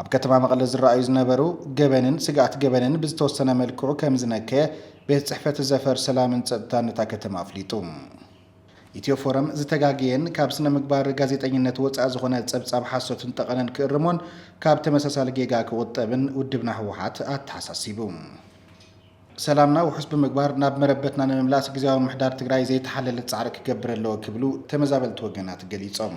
ኣብ ከተማ መቐለ ዝረኣዩ ዝነበሩ ገበንን ስግኣት ገበንን ብዝተወሰነ መልክዑ ከምዝነከየ ቤት ፅሕፈት ዘፈር ሰላምን ፀጥታን እታ ከተማ ኣፍሊጡ። ኢትዮ ፎረም ዝተጋገየን ካብ ስነ ምግባር ጋዜጠኝነት ወፃኢ ዝኾነ ፀብፃብ ሓሶትን ጠቐነን ክእርሞን ካብ ተመሳሳሊ ጌጋ ክቑጠብን ውድብና ህወሓት ኣተሓሳሲቡ። ሰላምና ውሑስ ብምግባር ናብ መረበትና ንምምላስ ግዝያዊ ምምሕዳር ትግራይ ዘይተሓለለ ፃዕሪ ክገብር ኣለዎ ክብሉ ተመዛበልቲ ወገናት ገሊፆም።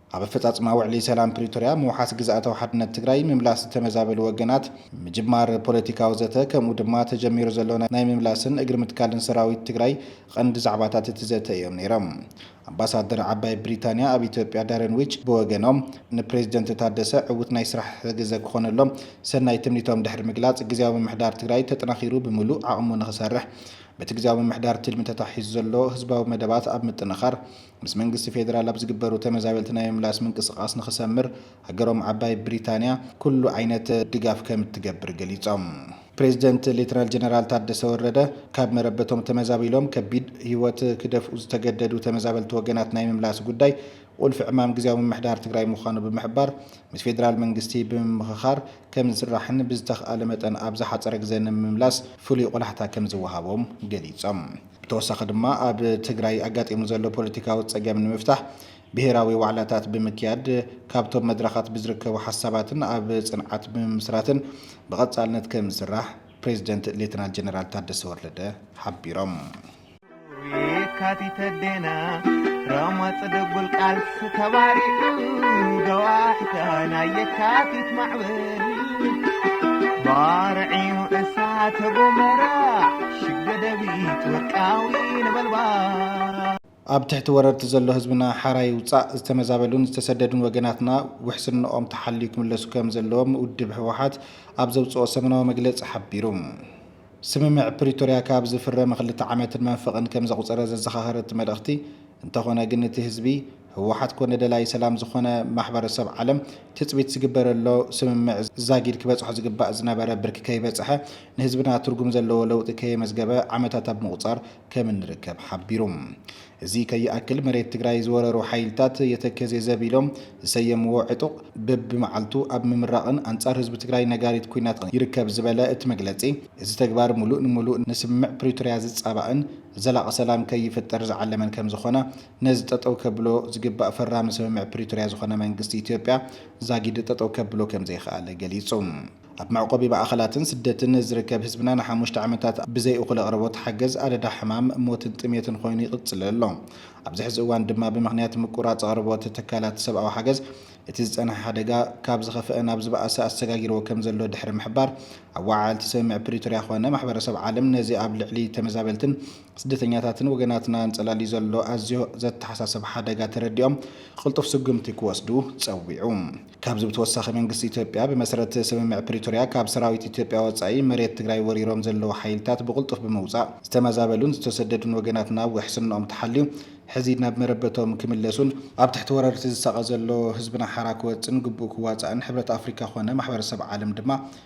ኣብ ኣፈፃፅማ ውዕሊ ሰላም ፕሪቶርያ፣ ምውሓስ ግዝኣታዊ ሓድነት ትግራይ፣ ምምላስ ዝተመዛበሉ ወገናት፣ ምጅማር ፖለቲካዊ ዘተ ከምኡ ድማ ተጀሚሩ ዘሎ ናይ ምምላስን እግሪ ምትካልን ሰራዊት ትግራይ ቐንዲ ዛዕባታት እቲ ዘተ እዮም ነይሮም። ኣምባሳደር ዓባይ ብሪታንያ ኣብ ኢትዮጵያ ዳረን ዊች ብወገኖም ንፕሬዝደንት ታደሰ ዕውት ናይ ስራሕ ግዘ ክኾነሎም ሰናይ ትምኒቶም ድሕሪ ምግላፅ ግዝያዊ ምምሕዳር ትግራይ ተጠናኺሩ ብምሉእ ዓቕሙ ንኽሰርሕ በቲ ግዝያዊ ምምሕዳር ትልሚ ተታሒዙ ዘሎ ህዝባዊ መደባት ኣብ ምጥንኻር ምስ መንግስቲ ፌደራል ኣብ ዝግበሩ ተመዛበልቲ ናይ ምምላስ ምንቅስቓስ ንኽሰምር ሃገሮም ዓባይ ብሪታንያ ኩሉ ዓይነት ድጋፍ ከም እትገብር ገሊፆም። ፕሬዚደንት ሌተናል ጀነራል ታደሰ ወረደ ካብ መረበቶም ተመዛቢሎም ከቢድ ህይወት ክደፍኡ ዝተገደዱ ተመዛበልቲ ወገናት ናይ ምምላስ ጉዳይ ቑልፊ ዕማም ግዝያዊ ምምሕዳር ትግራይ ምዃኑ ብምሕባር ምስ ፌደራል መንግስቲ ብምምኽኻር ከም ዝስራሕን ብዝተኽኣለ መጠን ኣብ ዝሓፀረ ግዘ ንምምላስ ፍሉይ ቖላሕታ ከም ዝወሃቦም ገሊፆም። ብተወሳኺ ድማ ኣብ ትግራይ ኣጋጢሙ ዘሎ ፖለቲካዊ ፀገም ንምፍታሕ ብሄራዊ ዋዕላታት ብምክያድ፣ ካብቶም መድረኻት ብዝርከቡ ሓሳባትን ኣብ ፅንዓት ብምምስራትን ብቐፃልነት ከምዝስራሕ ፕሬዚደንት ሌተናል ጀነራል ታደሰ ወረደ ሓቢሮም። ባርዕዩ እሳተ ጎመራ ሽግ ደደቢት ወርቃዊ ነበልባል ኣብ ትሕቲ ወረርቲ ዘሎ ህዝብና ሓራ ይውፃእ፣ ዝተመዛበሉን ዝተሰደዱን ወገናትና ውሕስንኦም ተሓልዩ ክምለሱ ከምዘለዎም ውድብ ህወሓት ኣብ ዘውፅኦ ሰሙናዊ መግለፂ ሓቢሩ። ስምምዕ ፕሪቶርያ ካብ ዝፍረም ክልተ ዓመትን መንፈቕን ከም ዘቑፀረ ዘዘኻኸረ እቲ መልእኽቲ፣ እንተኾነ ግን እቲ ህዝቢ፣ ህወሓት ኮነ ደላይ ሰላም ዝኾነ ማሕበረሰብ ዓለም ትፅቢት ዝግበረሎ ስምምዕ ዛጊድ ክበፅሖ ዝግባእ ዝነበረ ብርኪ ከይበፀሐ ንህዝብና ትርጉም ዘለዎ ለውጢ ከየመዝገበ ዓመታት ኣብ ምቑፃር ከም እንርከብ ሓቢሩ። እዚ ከይኣክል መሬት ትግራይ ዝወረሩ ሓይልታት የተከዜ ዘብ ኢሎም ዝሰየምዎ ዕጡቕ በቢመዓልቱ ኣብ ምምራቕን ኣንፃር ህዝቢ ትግራይ ነጋሪት ኲናት ይርከብ ዝበለ እቲ መግለፂ፣ እዚ ተግባር ሙሉእ ንሙሉእ ንስምምዕ ፕሪቶርያ ዝፃባእን ዘላቒ ሰላም ከይፍጠር ዝዓለመን ከምዝኾነ ነዚ ጠጠው ከብሎ ዝግባእ ፈራሚ ስምምዕ ፕሪቶርያ ዝኾነ መንግስቲ ኢትዮጵያ ዛጊድ ጠጠው ከብሎ ከምዘይኸኣለ ገሊፁ። ኣብ መዕቆቢ ማእኸላትን ስደትን ዝርከብ ህዝብና ንሓሙሽተ ዓመታት ብዘይ እኹል ኣቕርቦት ሓገዝ ኣደዳ ሕማም፣ ሞትን ጥሜትን ኾይኑ ይቕፅል ኣሎ። ኣብዚ ሕዚ እዋን ድማ ብምኽንያት ምቁራፅ ኣቕርቦት ትካላት ሰብኣዊ ሓገዝ እቲ ዝፀንሐ ሓደጋ ካብ ዝኸፈኣ ናብ ዝበኣሰ ኣሰጋጊርዎ ከምዘሎ ድሕሪ ምሕባር ኣወዓዓልቲ ስምምዕ ፕሪቶርያ ኾነ ማሕበረሰብ ዓለም ነዚ ኣብ ልዕሊ ተመዛበልትን ስደተኛታትን ወገናትና ኣንጸላልዩ ዘሎ ኣዝዮ ዘተሓሳስብ ሓደጋ ተረዲኦም ቅልጡፍ ስጉምቲ ክወስዱ ጸዊዑ። ካብዚ ብተወሳኺ መንግስቲ ኢትዮጵያ ብመሰረት ስምምዕ ፕሪቶርያ ካብ ሰራዊት ኢትዮጵያ ወጻኢ መሬት ትግራይ ወሪሮም ዘለዉ ሓይልታት ብቕልጡፍ ብምውጻእ ዝተመዛበሉን ዝተሰደዱን ወገናትና ውሕስንኦም ተሓልዩ ሕዚ ናብ መረበቶም ክምለሱን ኣብ ትሕቲ ወረርቲ ዝሳቐ ዘሎ ህዝብና ሓራ ክወጽእን ግቡኡ ክዋጻእን ሕብረት ኣፍሪካ ኮነ ማሕበረሰብ ዓለም ድማ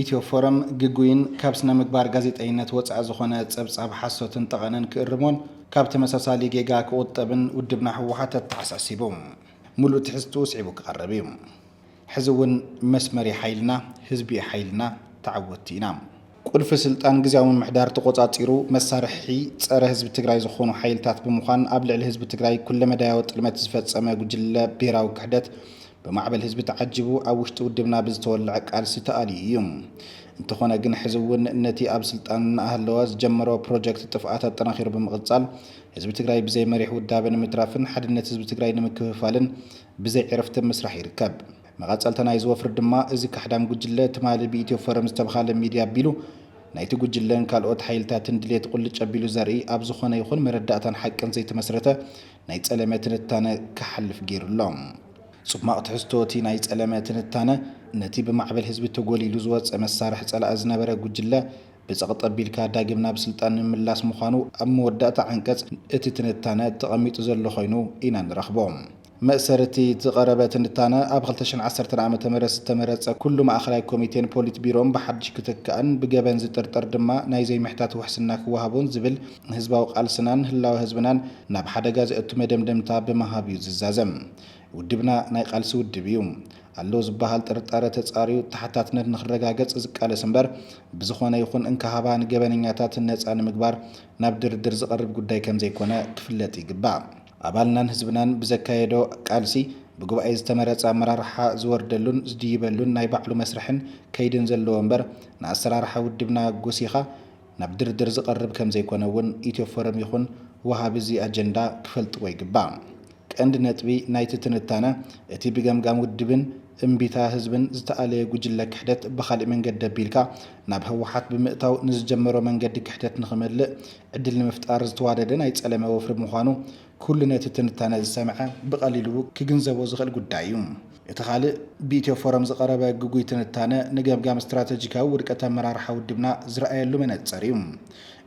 ኢትዮ ፎረም ግጉይን ካብ ስነ ምግባር ጋዜጠይነት ወፃኢ ዝኾነ ፀብፃብ ሓሶትን ጠቐነን ክእርሞን ካብ ተመሳሳሊ ጌጋ ክቑጠብን ውድብና ህወሓት ኣተሓሳሲቡ ሙሉእ ትሕዝትኡ ስዒቡ ክቐርብ እዩ። ሕዚ እውን መስመር እዩ ሓይልና፣ ህዝቢ እዩ ሓይልና፣ ተዓወትቲ ኢና! ቁልፊ ስልጣን ግዝያዊ ምምሕዳር ተቖፃፂሩ መሳርሒ ፀረ ህዝቢ ትግራይ ዝኾኑ ሓይልታት ብምዃን ኣብ ልዕሊ ህዝቢ ትግራይ ኩለመዳያዊ ጥልመት ዝፈፀመ ጉጅለ ብሄራዊ ክሕደት ብማዕበል ህዝቢ ተዓጂቡ ኣብ ውሽጢ ውድብና ብዝተወለዐ ቃልሲ ተኣልዩ እዩ። እንተኾነ ግን ሕዚ እውን ነቲ ኣብ ስልጣን እናሃለወ ዝጀመሮ ፕሮጀክት ጥፍኣት ኣጠናኺሩ ብምቕፃል ህዝቢ ትግራይ ብዘይ መሪሕ ውዳበ ንምትራፍን ሓድነት ህዝቢ ትግራይ ንምክፍፋልን ብዘይ ዕረፍቲ ምስራሕ ይርከብ። መቐፀልታ ናይዚ ወፍሪ ድማ እዚ ካሕዳም ጉጅለ ትማሊ ብኢትዮ ፎረም ዝተብሃለ ሚድያ ኣቢሉ ናይቲ ጉጅለን ካልኦት ሓይልታትን ድሌት ቁልጭ ኣቢሉ ዘርኢ ኣብ ዝኾነ ይኹን መረዳእታን ሓቅን ዘይተመስረተ ናይ ጸለመ ትንታነ ክሓልፍ ገይሩ ኣሎ። ጹማቕ ትሕዝቶ እቲ ናይ ጸለመ ትንታነ፣ ነቲ ብማዕበል ህዝቢ ተጎሊሉ ዝወጸ መሳርሒ ጸላኢ ዝነበረ ጉጅለ ብጸቕጢ ኣቢልካ ዳግም ናብ ስልጣን ምምላስ ምዃኑ ኣብ መወዳእታ ዓንቀጽ እቲ ትንታነ ተቐሚጡ ዘሎ ኮይኑ ኢና ንረኽቦ። መእሰሪ እቲ ዝቐረበ ትንታነ፣ ኣብ ክልተ ሽሕን ዓሰርተን ዓመተ ምህረት ዝተመረጸ ኩሉ ማእከላይ ኮሚቴን ፖሊት ቢሮን ብሓድሽ ክትካእን ብገበን ዝጥርጠር ድማ ናይ ዘይምሕታት ውሕስና ክወሃቦን ዝብል ንህዝባዊ ቃልስናን ህላወ ህዝብናን ናብ ሓደጋ ዘእቱ መደምደምታ ብምሃብ እዩ ዝዛዘም። ውድብና ናይ ቃልሲ ውድብ እዩ። ኣሎ ዝበሃል ጥርጣረ ተፃርዩ ተሓታትነት ንክረጋገፅ ዝቃለስ እምበር ብዝኾነ ይኹን እንካ ሃባ ንገበነኛታት ነፃ ንምግባር ናብ ድርድር ዝቐርብ ጉዳይ ከምዘይኮነ ክፍለጥ ይግባእ። ኣባልናን ህዝብናን ብዘካየዶ ቃልሲ ብጉባኤ ዝተመረፀ ኣመራርሓ ዝወርደሉን ዝድይበሉን ናይ ባዕሉ መስርሕን ከይድን ዘለዎ እምበር ንኣሰራርሓ ውድብና ጎሲኻ ናብ ድርድር ዝቐርብ ከምዘይኮነ እውን ኢትዮፎረም ይኹን ወሃቢ እዚ ኣጀንዳ ክፈልጥዎ ይግባእ። ቀንዲ ነጥቢ ናይቲ ትንታነ እቲ ብገምጋም ውድብን እምቢታ ህዝብን ዝተኣለየ ጉጅለ ክሕደት ብኻሊእ መንገዲ ኣቢልካ ናብ ህወሓት ብምእታው ንዝጀመሮ መንገዲ ክሕደት ንኽመልእ ዕድል ንምፍጣር ዝተዋደደ ናይ ፀለመ ወፍሪ ምዃኑ ኩሉ ነቲ ትንታነ ዝሰምዐ ብቐሊሉ ክግንዘቦ ዝኽእል ጉዳይ እዩ። እቲ ካልእ ብኢትዮ ፎረም ዝቐረበ ግጉይ ትንታነ ንገምጋም ስትራተጂካዊ ውድቀት ኣመራርሓ ውድብና ዝረኣየሉ መነጽር እዩ።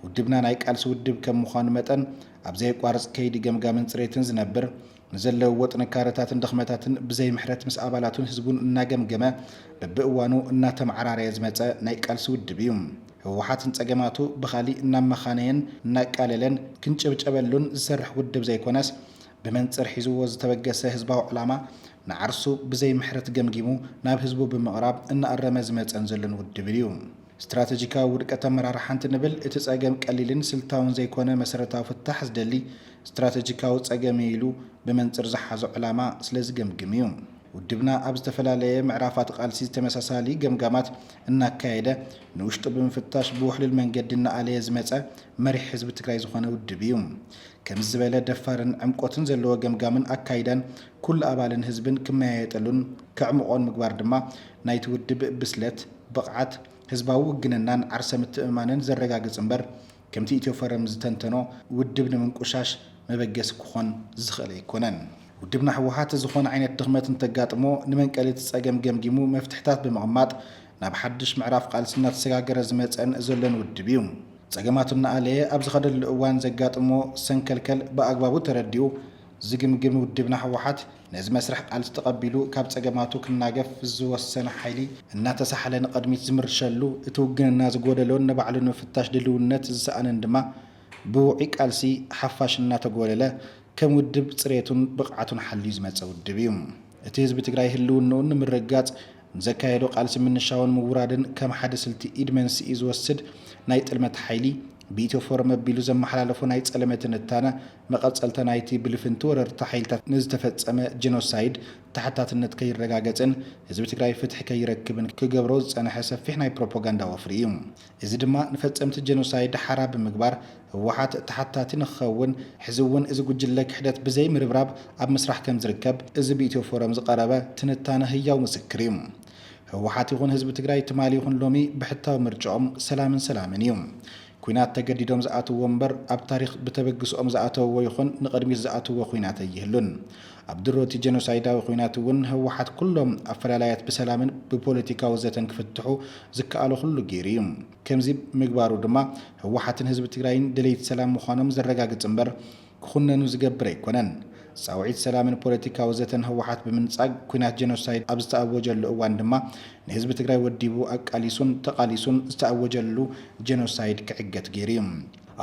ውድብና ናይ ቃልሲ ውድብ ከም ምዃኑ መጠን ኣብ ዘየቋርጽ ከይዲ ገምጋምን ጽሬትን ዝነብር፣ ንዘለውዎ ጥንካረታትን ድኽመታትን ብዘይምሕረት ምስ ኣባላቱን ህዝቡን እናገምገመ በብእዋኑ እናተመዓራረየ ዝመጸ ናይ ቃልሲ ውድብ እዩ። ህወሓት ንፀገማቱ ብኻሊእ እናመኻነየን እናቃለለን ክንጭብጨበሉን ዝሰርሕ ውድብ ዘይኮነስ ብመንፅር ሒዝዎ ዝተበገሰ ህዝባዊ ዕላማ ንዓርሱ ብዘይ ምሕረት ገምጊሙ ናብ ህዝቡ ብምቕራብ እናኣረመ ዝመፀን ዘሎን ውድብን እዩ። ስትራተጂካዊ ውድቀት ኣመራርሓ እንትንብል እቲ ፀገም ቀሊልን ስልታውን ዘይኮነ መሰረታዊ ፍታሕ ዝደሊ ስትራተጂካዊ ፀገም እዩ ኢሉ ብመንፅር ዝሓዞ ዕላማ ስለዝገምግም እዩ። ውድብና ኣብ ዝተፈላለየ ምዕራፋት ቃልሲ ተመሳሳሊ ገምጋማት እናካየደ ንውሽጡ ብምፍታሽ ብውሕሉል መንገዲ እናኣለየ ዝመፀ መሪሕ ህዝቢ ትግራይ ዝኾነ ውድብ እዩ። ከምዚ ዝበለ ደፋርን ዕምቆትን ዘለዎ ገምጋምን ኣካይዳን ኩሉ ኣባልን ህዝብን ክመያየጠሉን ከዕምቖን ምግባር ድማ ናይቲ ውድብ ብስለት፣ ብቕዓት፣ ህዝባዊ ውግንናን ዓርሰ ምትእምማንን ዘረጋግፅ እምበር ከምቲ ኢትዮፎረም ዝተንተኖ ውድብ ንምንቁሻሽ መበገሲ ክኾን ዝኽእል ኣይኮነን። ውድብና ህወሓት ዝኾነ ዓይነት ድኽመት እንተጋጥሞ ንመንቀሊ እቲ ፀገም ገምጊሙ መፍትሕታት ብምቕማጥ ናብ ሓዱሽ ምዕራፍ ቓልሲ እናተሰጋገረ ዝመፀን ዘሎን ውድብ ዩ። ፀገማቱ እናኣለየ ኣብ ዝኸደሉ እዋን ዘጋጥሞ ሰንከልከል ብኣግባቡ ተረዲኡ ዝግምግም ውድብና ህወሓት፣ ነዚ መስርሕ ቃልሲ ተቐቢሉ ካብ ጸገማቱ ክናገፍ ዝወሰነ ሓይሊ፣ እናተሳሕለ ንቐድሚት ዝምርሸሉ፣ እቲ ውግንና ዝጎደሎን ንባዕሉ ንምፍታሽ ድልውነት ዝሰኣነን ድማ ብውዑይ ቃልሲ ሓፋሽ እናተጎለለ ከም ውድብ ጽሬቱን ብቕዓቱን ሓልዩ ዝመጸ ውድብ እዩ። እቲ ህዝቢ ትግራይ ህልውንኡ ንምርግጋጽ ንዘካየዶ ቃልሲ ምንሻውን ምውራድን ከም ሓደ ስልቲ ኢድ መንስኢ ዝወስድ ናይ ጥልመት ሓይሊ ብኢትዮ ፎረም ኣቢሉ ዘመሓላለፎ ናይ ጸለመ ትንታነ መቐጸልታ ናይቲ ብልፍንቲ ወረርቲ ሓይልታት ንዝተፈጸመ ጀኖሳይድ ተሓታትነት ከይረጋገጽን ህዝቢ ትግራይ ፍትሒ ከይረክብን ክገብሮ ዝጸንሐ ሰፊሕ ናይ ፕሮፖጋንዳ ወፍሪ እዩ። እዚ ድማ ንፈጸምቲ ጀኖሳይድ ሓራ ብምግባር ህወሓት ተሓታቲ ንክኸውን ሕዚ እውን እዚ ጉጅለ ክሕደት ብዘይ ምርብራብ ኣብ ምስራሕ ከምዝርከብ እዚ ብኢትዮ ፎረም ዝቐረበ ትንታነ ህያው ምስክር እዩ። ህወሓት ይኹን ህዝቢ ትግራይ ትማሊ ይኹን ሎሚ ብሕታዊ ምርጭኦም ሰላምን ሰላምን እዩ። ኩናት ተገዲዶም ዝኣትውዎ እምበር ኣብ ታሪኽ ብተበግስኦም ዝኣተውዎ ይኹን ንቕድሚት ዝኣትውዎ ኩናት ኣይህሉን። ኣብ ድሮ እቲ ጀኖሳይዳዊ ኩናት እውን ህወሓት ኩሎም ኣፈላላያት ብሰላምን ብፖለቲካዊ ዘተን ክፍትሑ ዝከኣሎ ኩሉ ገይሩ እዩ። ከምዚ ምግባሩ ድማ ህወሓትን ህዝቢ ትግራይን ደለይቲ ሰላም ምዃኖም ዘረጋግፅ እምበር፣ ክኹነኑ ዝገብር ኣይኮነን። ጻውዒት ሰላምን ፖለቲካዊ ዘተን ህወሓት ብምንጻግ ኲናት ጀኖሳይድ ኣብ ዝተኣወጀሉ እዋን ድማ ንህዝቢ ትግራይ ወዲቡ ኣቃሊሱን ተቓሊሱን ዝተኣወጀሉ ጀኖሳይድ ክዕገት ገይሩ እዩ።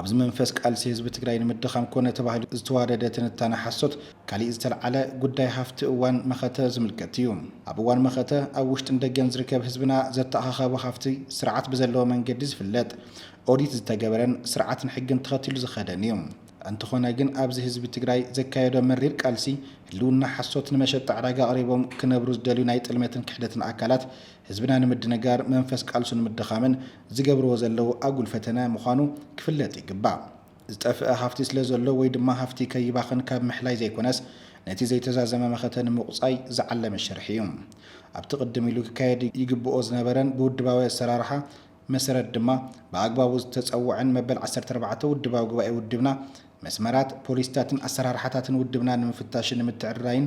ኣብዚ መንፈስ ቃልሲ ህዝቢ ትግራይ ንምድኻም ኮነ ተባሂሉ ዝተዋደደ ትንታነ ሓሶት ካሊእ ዝተልዓለ ጉዳይ ሃፍቲ እዋን መኸተ ዝምልከት እዩ። ኣብ እዋን መኸተ ኣብ ውሽጥን ደገን ዝርከብ ህዝብና ዘተኣኻኻቦ ሃፍቲ ስርዓት ብዘለዎ መንገዲ ዝፍለጥ ኦዲት ዝተገበረን ስርዓትን ሕግን ተኸቲሉ ዝኸደን እዩ። እንተኾነ ግን ኣብዚ ህዝቢ ትግራይ ዘካየዶ መሪር ቃልሲ ህልውና ሓሶት ንመሸጣ ዕዳጋ ኣቕሪቦም ክነብሩ ዝደልዩ ናይ ጥልመትን ክሕደትን ኣካላት ህዝብና ንምድንጋር መንፈስ ቃልሱ ንምድኻምን ዝገብርዎ ዘለዉ ኣጉል ፈተነ ምዃኑ ክፍለጥ ይግባእ። ዝጠፍእ ሃፍቲ ስለዘሎ ወይ ድማ ሃፍቲ ከይባኽን ካብ ምሕላይ ዘይኮነስ ነቲ ዘይተዛዘመ መኸተ ንምቑፃይ ዝዓለመ ሽርሒ እዩ። ኣብቲ ቅድም ኢሉ ክካየድ ይግብኦ ዝነበረን ብውድባዊ ኣሰራርሓ መሰረት ድማ ብኣግባቡ ዝተጸወዐን መበል ዓሰርተ ኣርባዕተ ውድባዊ ጉባኤ ውድብና መስመራት፣ ፖሊሲታትን ኣሰራርሓታትን ውድብና ንምፍታሽን ንምትዕርራይን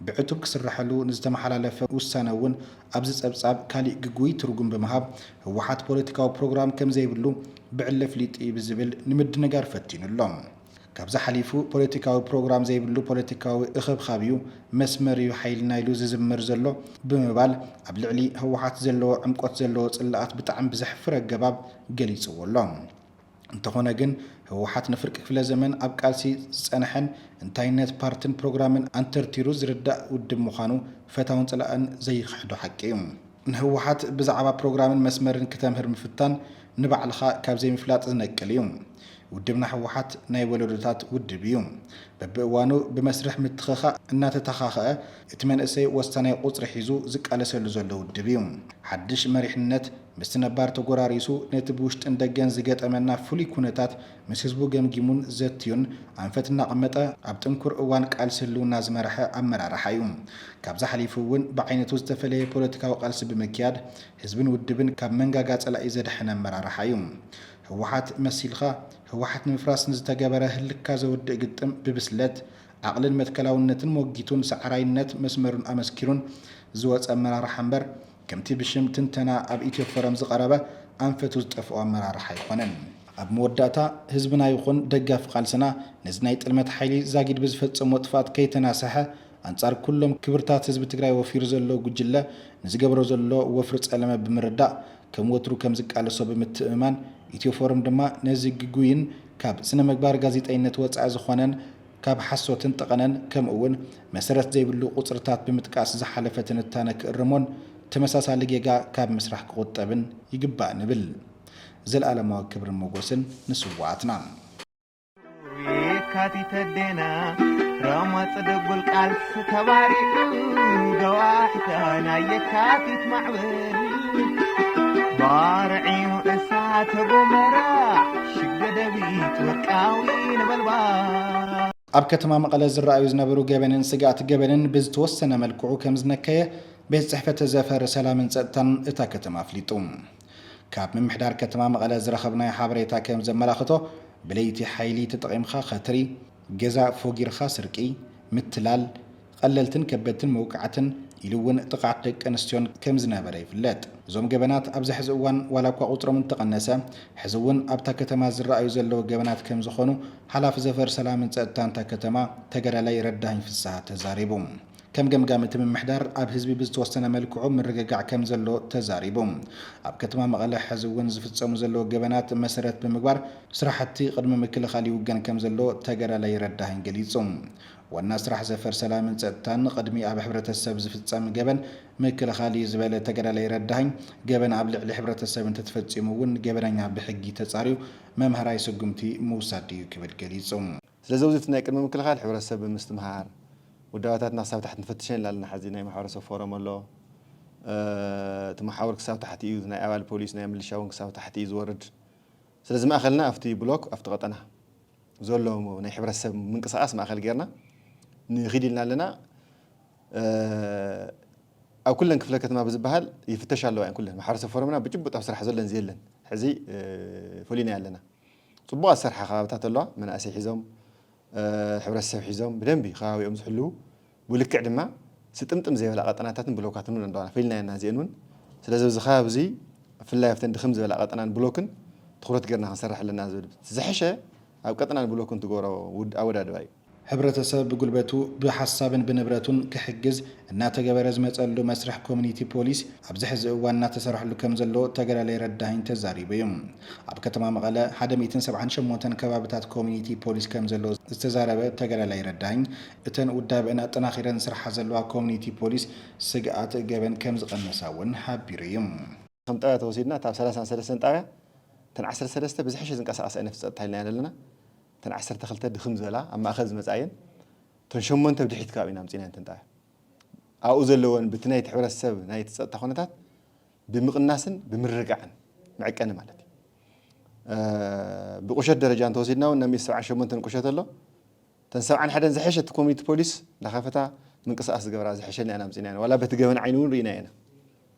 ብዕቱብ ክስረሐሉ ንዝተመሓላለፈ ውሳነ እውን ኣብዚ ጸብጻብ ካሊእ ግጉይ ትርጉም ብምሃብ ህወሓት ፖለቲካዊ ፕሮግራም ከምዘይብሉ ብዕሊ ኣፍሊጡ እዩ ብዝብል ንምድንጋር ፈቲኑ ኣሎ። ካብዚ ሓሊፉ ፖለቲካዊ ፕሮግራም ዘይብሉ ፖለቲካዊ እኽብኻብ ዩ፣ መስመር ዩ ሓይልና ኢሉ ዝዝምር ዘሎ ብምባል ኣብ ልዕሊ ህወሓት ዘለዎ ዕምቆት ዘለዎ ፅላኣት ብጣዕሚ ብዘሕፍር ኣገባብ ገሊፅዎ ኣሎ። እንተኾነ ግን ህወሓት ንፍርቂ ክፍለ ዘመን ኣብ ቃልሲ ዝፀነሐን እንታይነት ፓርትን ፕሮግራምን ኣንተርቲሩ ዝርዳእ ውድብ ምዃኑ ፈታውን ፀላእን ዘይኽሕዶ ሓቂ ዩ። ንህወሓት ብዛዕባ ፕሮግራምን መስመርን ክተምህር ምፍታን ንባዕልኻ ካብ ዘይምፍላጥ ዝነቅል እዩ። ውድብና ህወሓት ናይ ወለዶታት ውድብ እዩ። በብእዋኑ ብመስርሕ ምትኽኻእ እናተተኻኸኣ እቲ መንእሰይ ወሳናይ ቁፅሪ ሒዙ ዝቃለሰሉ ዘሎ ውድብ እዩ። ሓድሽ መሪሕነት ምስቲ ነባር ተጎራሪሱ ነቲ ብውሽጥን ደገን ዝገጠመና ፍሉይ ኩነታት ምስ ህዝቡ ገምጊሙን ዘትዩን ኣንፈት እናቐመጠ ኣብ ጥንኩር እዋን ቃልሲ ህልውና ዝመረሐ ኣመራርሓ እዩ። ካብዚ ሓሊፉ እውን ብዓይነቱ ዝተፈለየ ፖለቲካዊ ቃልሲ ብምክያድ ህዝብን ውድብን ካብ መንጋጋ ፀላኢ ዘድሐነ ኣመራርሓ እዩ። ህወሓት መሲልኻ ህወሓት ንምፍራስ ንዝተገበረ ህልክካ ዘውድእ ግጥም ብብስለት፣ ዓቕልን መትከላውነትን ሞጊቱን ሰዓራይነት መስመሩን ኣመስኪሩን ዝወፀ ኣመራርሓ እምበር፣ ከምቲ ብሽም ትንተና ኣብ ኢትዮፎረም ዝቐረበ ኣንፈቱ ዝጠፍኦ ኣመራርሓ ኣይኮነን። ኣብ መወዳእታ ህዝብና ይኹን ደጋፊ ቃልስና ነዚ ናይ ጥልመት ሓይሊ ዛጊድ ብዝፈፀሞ ጥፍኣት ከይተናሰሐ ኣንፃር ኩሎም ክብርታት ህዝቢ ትግራይ ወፊሩ ዘሎ ጉጅለ ንዝገብሮ ዘሎ ወፍሪ ፀለመ ብምርዳእ ከም ወትሩ ከም ዝቃለሶ ብምትእምማን ኢትዮፎረም ድማ ነዚ ግጉይን ካብ ስነምግባር ጋዜጠይነት ወፃኢ ዝኾነን ካብ ሓሶትን ጠቐነን ከምኡ እውን መሰረት ዘይብሉ ቁፅርታት ብምጥቃስ ዝሓለፈ ትንታነ ክእርሞን ተመሳሳሊ ጌጋ ካብ ምስራሕ ክቑጠብን ይግባእ ንብል። ዘልኣለማዊ ክብርን ሞጎስን ንስውኣትና! የካቲት ኣዴና ረመፅ ድጉል ቃልሲ ተባሪዑ ደዋ ሒታ ናይ የካቲት ማዕበል ባርዕዩ እሳተ ጎመራ ሽግ ደደቢት ወርቃዊ ነበልባል ኣብ ከተማ መቐለ ዝረኣዩ ዝነበሩ ገበንን ስግኣት ገበንን ብዝተወሰነ መልክዑ ከም ዝነከየ ቤት ጽሕፈት ዘፈር ሰላምን ጸጥታን እታ ከተማ ኣፍሊጡ። ካብ ምምሕዳር ከተማ መቐለ ዝረኸብናዮ ሓበሬታ ከም ዘመላኽቶ ብለይቲ ሓይሊ ተጠቒምካ ከትሪ፣ ገዛ ፎጊርኻ ስርቂ፣ ምትላል፣ ቐለልትን ከበድትን መውቃዕትን ኢሉ እውን ጥቕዓት ደቂ ኣንስትዮን ከም ዝነበረ ይፍለጥ። እዞም ገበናት ኣብዚ ሕዚ እዋን ዋላ እኳ ቁፅሮም እንተቐነሰ ሕዚ እውን ኣብታ ከተማ ዝረኣዩ ዘለዉ ገበናት ከም ዝኾኑ ሓላፊ ዘፈር ሰላምን ፀጥታን እታ ከተማ ተጋዳላይ ረዳሀኝ ፍስሃ ተዛሪቡ። ከም ገምጋም እቲ ምምሕዳር ኣብ ህዝቢ ብዝተወሰነ መልክዑ ምርግጋዕ ከም ዘሎ ተዛሪቡ። ኣብ ከተማ መቐለ ሕዚ እውን ዝፍፀሙ ዘለዉ ገበናት መሰረት ብምግባር ስራሕቲ ቕድመ ምክልኻል ይውገን ከም ዘሎ ተጋዳላይ ረዳሀኝ ገሊፁ። ዋና ስራሕ ዘፈር ሰላምን ፀጥታን ቕድሚ ኣብ ሕብረተሰብ ዝፍፀም ገበን ምክልኻል እዩ ዝበለ ተጋዳላይ ረዳሀኝ፣ ገበን ኣብ ልዕሊ ሕብረተሰብ እንተተፈፂሙ እውን ገበነኛ ብሕጊ ተፃርዩ መምሃራይ ስጉምቲ ምውሳድ እዩ ክብል ገሊፁ። ስለዚ ኣብዚ እቲ ናይ ቅድሚ ምክልኻል ሕብረተሰብ ብምስትምሃር ውዳበታትና ክሳብ ታሕቲ ንፈትሸን ኢልና ኣለና። ሐዚ ናይ ማሕበረሰብ ፎረም ኣሎ። እቲ መሓውር ክሳብ ታሕቲ እዩ፣ ናይ ኣባል ፖሊስ፣ ናይ ምልሻ እውን ክሳብ ታሕቲ እዩ ዝወርድ። ስለዚ ማእኸልና ኣብቲ ብሎክ፣ ኣብቲ ቀጠና ዘሎ ናይ ሕብረተሰብ ምንቅስቓስ ማእኸል ገይርና ንኺድ ኢልና ኣለና። ኣብ ኩለን ክፍለ ከተማ ብዝበሃል ይፍተሻ ኣለዋ እየን ኩለን። ማሕበረሰብ ፎረምና ብጭቡጥ ኣብ ስራሕ ዘሎን ዘየለን ሕዚ ፈሊናዮ ኣለና። ፅቡቓት ዝሰርሓ ከባብታት ኣለዋ፣ መናእሰይ ሒዞም ሕብረተሰብ ሒዞም ብደንቢ ከባቢኦም ዝሕልዉ ብልክዕ ድማ ስጥምጥም ዘይበላ ቀጠናታትን ብሎካትን እውን ኣለዋና ፈሊናዮ እና እዚኤን እውን ስለዚ ኣብዚ ከባቢ እዙይ ብፍላይ ኣብተን ድኽም ዝበላ ቀጠናን ብሎክን ትኹረት ገይርና ክንሰርሕ ኣለና ዝብል ዝሐሸ ኣብ ቀጠናን ብሎክን ትገብሮ ኣወዳድባ እዩ። ሕብረተሰብ ብጉልበቱ ብሓሳብን ብንብረቱን ክሕግዝ እናተገበረ ዝመፀሉ መስርሕ ኮሚኒቲ ፖሊስ ኣብዚ ሕዚ እዋን እናተሰርሐሉ ከምዘሎ ተጋዳላይ ረዳሀኝ ተዛሪቡ እዩ። ኣብ ከተማ መቐለ ሓደ ሚእትን ሰብዓን ሸሞንተን ከባብታት ኮሚኒቲ ፖሊስ ከምዘሎ ዝተዛረበ ተጋዳላይ ረዳኝ፣ እተን ውዳበእን ኣጠናኺረን ዝስርሓ ዘለዋ ኮሚኒቲ ፖሊስ ስግኣት ገበን ከምዝቐነሳ እውን ሓቢሩ እዩ። ከም ጣብያ ተወሲድና እታ ኣብ ሰላሳን ሰለስተን ጣብያ እተን ዓሰርተ ሰለስተ ብዝሐሸ ዝንቀሳቐስ ኣይነት ፀጥታ ኢልና ኢና ዘለና። እተን ዓሰርተ ክልተ ድኽም ዝበላ ኣብ ማእኸል ዝመፃ እየን። እተን ሸሞንተ ብድሕሪት ከባቢ ኢና ኣምፂእናየን እተን ጣብያ ኣብኡ ዘለወን ብቲ ናይቲ ሕብረተሰብ ናይቲ ፀጥታ ኩነታት ብምቕናስን ብምርጋዕን መዕቀኒ ማለት እዩ። ብቁሸት ደረጃ እንተወሲድና እውን ናብ ሚእቲ ሰብዓን ሸሞንተን ቁሸት ኣሎ። እተን ሰብዓን ሓደን ዝሐሸት ኮሚኒቲ ፖሊስ እናኸፈታ ምንቅስቓስ ዝገብራ ዝሐሸና ኢና ኣምፂእናየን ዋላ በቲ ገበን ዓይኒ እውን ርኢናዮ ኢና።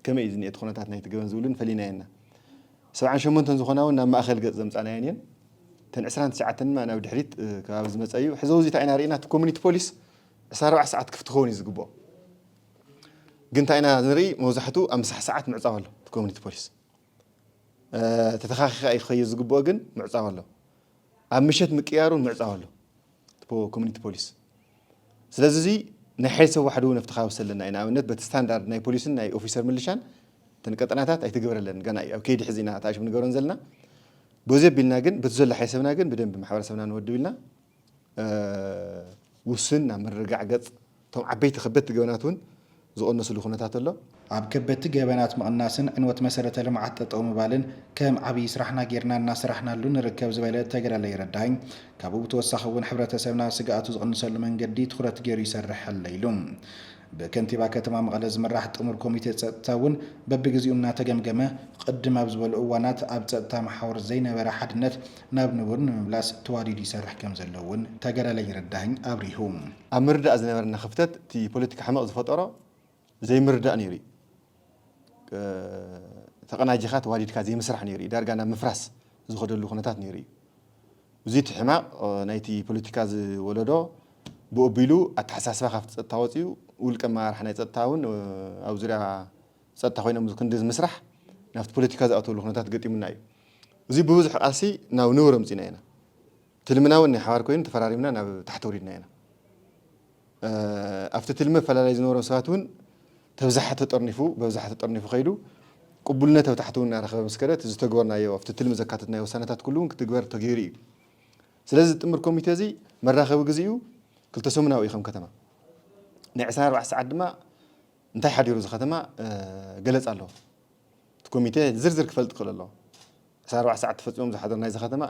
ከመይ እዩ ዝኒኤ እቲ ኩነታት ናይቲ ገበን ዝብልን ፈሊናዮ እና። ሰብዓን ሸሞንተን ዝኾና እውን ናብ ማእኸል ገፅ ዘምፃእናየን እየን። እተን ዕስራን ትሽዓተን ድማ ናብ ድሕሪት ከባቢ ዝመፀ እዩ። ሕዚ ኣብዚ እንታይ ኢና ርኢና እቲ ኮሚኒቲ ፖሊስ ዕስራ ኣርባዕተ ሰዓት ክፍቲ ክኸውን እዩ ዝግብኦ። ግን ታይ ኢና ንርኢ መብዛሕቱ ኣብ ምሳሕ ሰዓት ምዕፃው ኣሎ እቲ ኮሚኒቲ ፖሊስ ተተኻኺኻ እዩ ክኸይድ ዝግብኦ ግን ምዕፃው ኣሎ ኣብ ምሸት ምቅያር እውን ምዕፃው ኣሎ እቲ ኮሚኒቲ ፖሊስ ስለዚ እዚ ናይ ሓይል ሰብ ዋሕዱ እውን ኣፍተኻውስ ኣለና እዩ ንኣብነት በቲ ስታንዳርድ ናይ ፖሊስን ናይ ኦፊሰር ምልሻን እተን ቀጠናታት ኣይተገበረለን ገና እዩ ኣብ ከይዲ ሕዚ ኢና ተኣሽም ንገሮን ዘለና በዚ ኣቢልና ግን በቲ ዘሎ ሓይል ሰብና ግን ብደንቢ ማሕበረሰብና ንወድብ ኢልና ውሱን ናብ ምርግጋዕ ገፅ እቶም ዓበይቲ ከበድቲ ገበናት እውን ዝቕነስሉ ኩነታት ኣሎ። ኣብ ከበድቲ ገበናት ምቕናስን ዕንወት መሰረተ ልምዓት ጠጠው ምባልን ከም ዓብዪ ስራሕና ገይርና እናሰራሕናሉ ንርከብ ዝበለ ተጋዳላይ ረዳይ፣ ካብኡ ብተወሳኺ እውን ሕብረተሰብና ስግኣቱ ዝቕንሰሉ መንገዲ ትኹረት ገይሩ ይሰርሕ ኣሎ ኢሉ። ብከንቲባ ከተማ መቐለ ዝምራሕ ጥሙር ኮሚቴ ፀጥታ እውን በቢግዚኡ እናተገምገመ ቕድም ኣብ ዝበሉ እዋናት ኣብ ፀጥታ መሓውር ዘይነበረ ሓድነት ናብ ንቡር ንምምላስ ተዋዲዱ ይሰርሕ ከምዘሎ እውን ተገረለኝ ረዳሀኝ ኣብሪሁ። ኣብ ምርድዳእ ዝነበረና ክፍተት እቲ ፖለቲካ ሕመቕ ዝፈጠሮ ዘይምርድዳእ ነይሩ እዩ። ተቐናጂኻ ተዋዲድካ ዘይምስራሕ ነይሩ እዩ ዳርጋ ናብ ምፍራስ ዝኸደሉ ኩነታት ነይሩ እዩ። እዚ እቲ ሕማቕ ናይቲ ፖለቲካ ዝወለዶ ብኡ ኣቢሉ ኣተሓሳስባ ካብቲ ጸጥታ ወጺኡ ውልቀ ኣመራርሓ ናይ ጸጥታ እውን ኣብ ዙርያ ጸጥታ ኮይኖም እዚ ክንዲ ምስራሕ ናብቲ ፖለቲካ ዝኣትወሉ ኩነታት ገጢሙና እዩ። እዚ ብብዙሕ ቃልሲ ናብ ንቡር ኣምጺእናዮ ኢና። ትልምና እውን ናይ ሓባር ኮይኑ ተፈራሪምና ናብ ታሕቲ ኣውሪድናዮ ኢና። ኣብቲ ትልሚ ኣፈላላይ ዝነበሮም ሰባት እውን ተብዛሓ ተጠርኒፉ በብዛሓ ተጠርኒፉ ከይዱ ቅቡልነት ኣብ ታሕቲ እውን እናረኸበ ምስ ከደ እቲ ዝተግበርናዮ ኣብቲ ትልሚ ዘካተትናዮ ውሳነታት ኩሉ እውን ክትግበር ተገይሩ እዩ። ስለዚ እዚ ጥምር ኮሚቴ እዚ መራኸቢ ግዜኡ ክልተ ሰሙናዊ እዩ ከም ከተማ። ናይ ዕስራን ኣርባዕተ ሰዓት ድማ እንታይ ሓዲሩ እዚ ከተማ ገለፃ ኣለዎ። እቲ ኮሚቴ ዝርዝር ክፈልጥ ክኽእል ኣለዎ። ዕስራን ኣርባዕተን ሰዓት ተፈጺሞም ዝሓደሩ ናይዚ ከተማ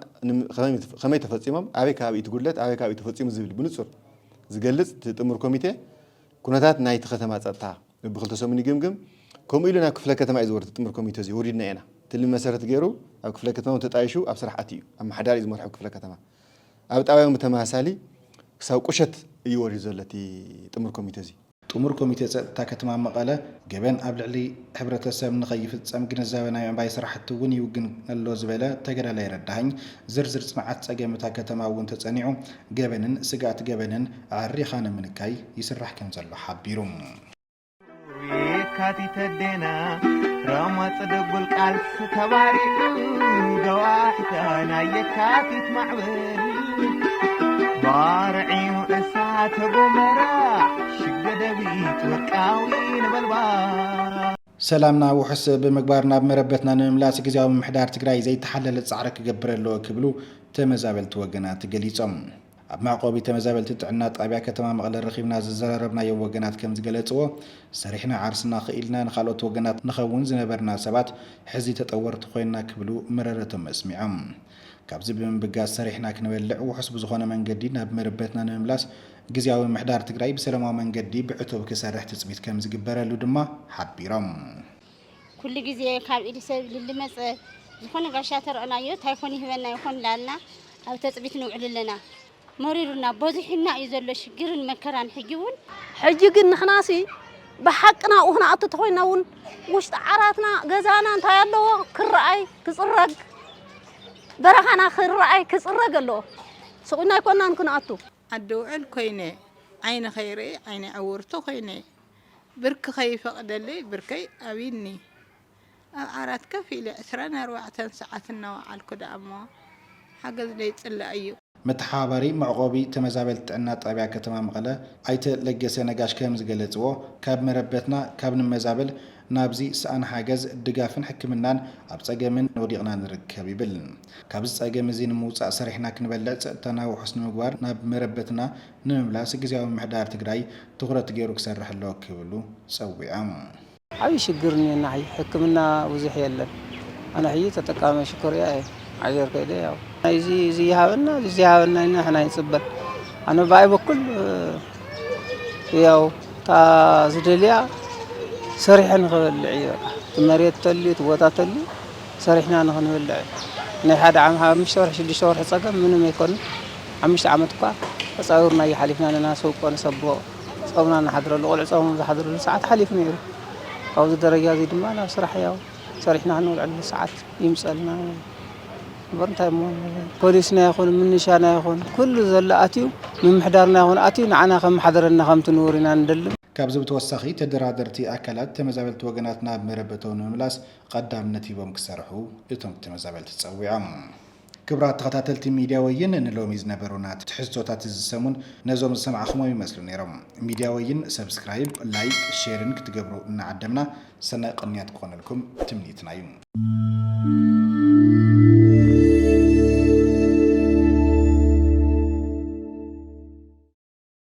ከመይ ተፈጺሞም፣ ኣበይ ከባቢ እዩ እቲ ጉድለት፣ ኣበይ ከባቢ እዩ ተፈጺሙ ዝብል ብንጹር ዝገልጽ እቲ ጥሙር ኮሚቴ ኩነታት ናይቲ ከተማ ጸጥታ በብክልተ ሰሙን ይግምግም። ከምኡ ኢሉ ናብ ክፍለ ከተማ እዩ ዝወርድ እቲ ጥሙር ኮሚቴ እዚ ወሪድና ኢና ትልሚ መሰረት ገይሩ ኣብ ክፍለ ከተማ እውን ተጣይሹ ኣብ ስራሕ ኣትዩ እዩ ኣመሓዳሪ እዩ ዝመርሖ ክፍለ ከተማ ኣብ ጣብያ እውን ብተመሳሳሊ ክሳብ ቁሸት እዩ ወሪዱ ዘሎ እቲ ጥሙር ኮሚቴ እዚ። ጥሙር ኮሚቴ ፀጥታ ከተማ መቐለ ገበን ኣብ ልዕሊ ሕብረተሰብ ንከይፍፀም ግንዛበ ናይ ምዕባይ ስራሕቲ እውን ይውግን ኣሎ ዝበለ ተገዳላይ ረዳሃኝ ዝርዝር ፅንዓት ፀገም እታ ከተማ እውን ተፀኒዑ ገበንን ስግኣት ገበንን ኣዐሪኻ ንምንካይ ይስራሕ ከምዘሎ ሓቢሩ። የካቲት ኣዴና ረመፅ ድጉል ቃልሲ ተባሪዑ ገዋሕታ ናይ የካቲት ማዕበል ባርዕዩ እሳተ ጎመራ ሽግ ደደቢት ወርቃዊ ነበልባል ሰላምና ውሑስ ብምግባር ናብ መረበትና ንምምላስ ግዜያዊ ምምሕዳር ትግራይ ዘይተሓለለ ጻዕሪ ክገብር ኣለዎ ክብሉ ተመዛበልቲ ወገናት ገሊጾም። ኣብ መዕቆቢ ተመዛበልቲ ጥዕና ጣብያ ከተማ መቐለ ረኺብና ዘዘራረብናዮ ወገናት ከም ዝገለጽዎ ሰሪሕና ዓርስና ክኢልና ንካልኦት ወገናት ንኸውን ዝነበርና ሰባት ሕዚ ተጠወርቲ ኮይና ክብሉ መረረቶም ኣስሚዖም። ካብዚ ብምብጋስ ሰሪሕና ክንበልዕ ውሑስ ብዝኾነ መንገዲ ናብ መረበትና ንምምላስ ግዝያዊ ምምሕዳር ትግራይ ብሰለማዊ መንገዲ ብዕቱብ ክሰርሕ ትፅቢት ከምዝግበረሉ ድማ ሓቢሮም። ኩሉ ግዜ ካብ ኢድ ሰብ ልልመፀ ዝኾነ ጋሻ ተረእናዮ ታይ ኮን ይህበና ይኾን ላልና ኣብ ተፅቢት ንውዕል ኣለና። መሪሩና በዚሑና እዩ ዘሎ ሽግርን መከራን ሕጂ ውን። ሕጂ ግን ንሕናሲ ብሓቂ ናብኡ ክንኣቱ ተኾይንና እውን ውሽጢ ዓራትና ገዛና እንታይ ኣለዎ ክረኣይ ክፅረግ በረኻና ክረኣይ ክፅረግ ኣለዎ ስቑና ኣይኮናን ክንኣቱ። ዓዲ ውዕል ኮይነ ዓይኒ ከይርኢ ዓይነይ ዕውርቲ ኮይነ ብርኪ ከይፈቕደለይ ብርከይ ኣቢኒ። ኣብ ዓራት ከፍ ኢለ ዕስራን ኣርባዕተን ሰዓት እናወዓልኩ ደኣ'ሞ ሓገዝ ዘይጽላእ እዩ። መተሓባባሪ መዕቖቢ ተመዛበልቲ ጥዕና ጣብያ ከተማ መቐለ ኣይተ ለገሰ ነጋሽ ከምዝገለፅዎ፣ ካብ መረበትና ካብ ንመዛበል ናብዚ ሰኣን ሓገዝ ድጋፍን ሕክምናን ኣብ ፀገምን ወዲቕና ንርከብ ይብል። ካብዚ ፀገም እዚ ንምውፃእ ሰሪሕና ክንበልዕ ፀጥታና ውሑስ ንምግባር ናብ መረበትና ንምምላስ ግዝያዊ ምምሕዳር ትግራይ ትኹረት ገይሩ ክሰርሕ ኣለዎ ክብሉ ፀዊዖም። ዓብይ ሽግር እኒኤና ሕጂ ሕክምና ብዙሕ የለን ኣነ ሕጂ ተጠቃማይ ሽኮርያ እየ ዓገር ከይደ ያው ናይዚ እዚ ይሃበና እዚ ዘይሃበና ኢና ሕና ይፅበ ኣነ ብኣይ በኩል ያው እታ ዝደልያ ሰሪሐ ንክበልዕ እዩ በቃ እቲ መሬት ተልዩ እቲ ቦታ ተልዩ ሰሪሕና ንክንበልዕ እዩ ናይ ሓደ ዓመት ሓሙሽተ ወርሒ ሽዱሽተ ወርሒ ፀገም ምንም ኣይኮነ ሓሙሽተ ዓመት እኳ ተፃዊርና እያ ሓሊፍና ኣለና ሰውቆ ንሰብሖ ጾምና እንሓድረሉ፣ ቆልዑ ጾሞም ዝሓድርሉ ሰዓት ሓሊፉ ነይሩ። ኣብዚ ደረጃ እዚ ድማ ናብ ስራሕ ያው ሰሪሕና ክንውዕለሉ ሰዓት ይምጸልና እዩ። እምበር እንታይ እሞ ፖሊስና ይኹን ምንሻና ይኹን ኩሉ ዘሎ ኣትዩ ምምሕዳርና ይኹን ኣትዩ ንዓና ከመሓደረና ከምቲ ንቡር ኢና ንደሊ። ካብዚ ብተወሳኺ ተደራደርቲ ኣካላት ተመዛበልቲ ወገናትና ኣብ መረበቶም ንምምላስ ቐዳምነት ሂቦም ክሰርሑ እቶም ተመዛበልቲ ጸዊዖም። ክብራት ተኸታተልቲ ሚድያ ወይን ንሎሚ ዝነበሩና ትሕዝቶታት እዚ ሰሙን ነዞም ዝሰማዕኹሞም ይመስሉ ነይሮም። ሚድያ ወይን ሰብስክራይብ፣ ላይክ፣ ሼርን ክትገብሩ እናዓደምና ሰናይ ቕንያት ክኾነልኩም ትምኒትና ዩ።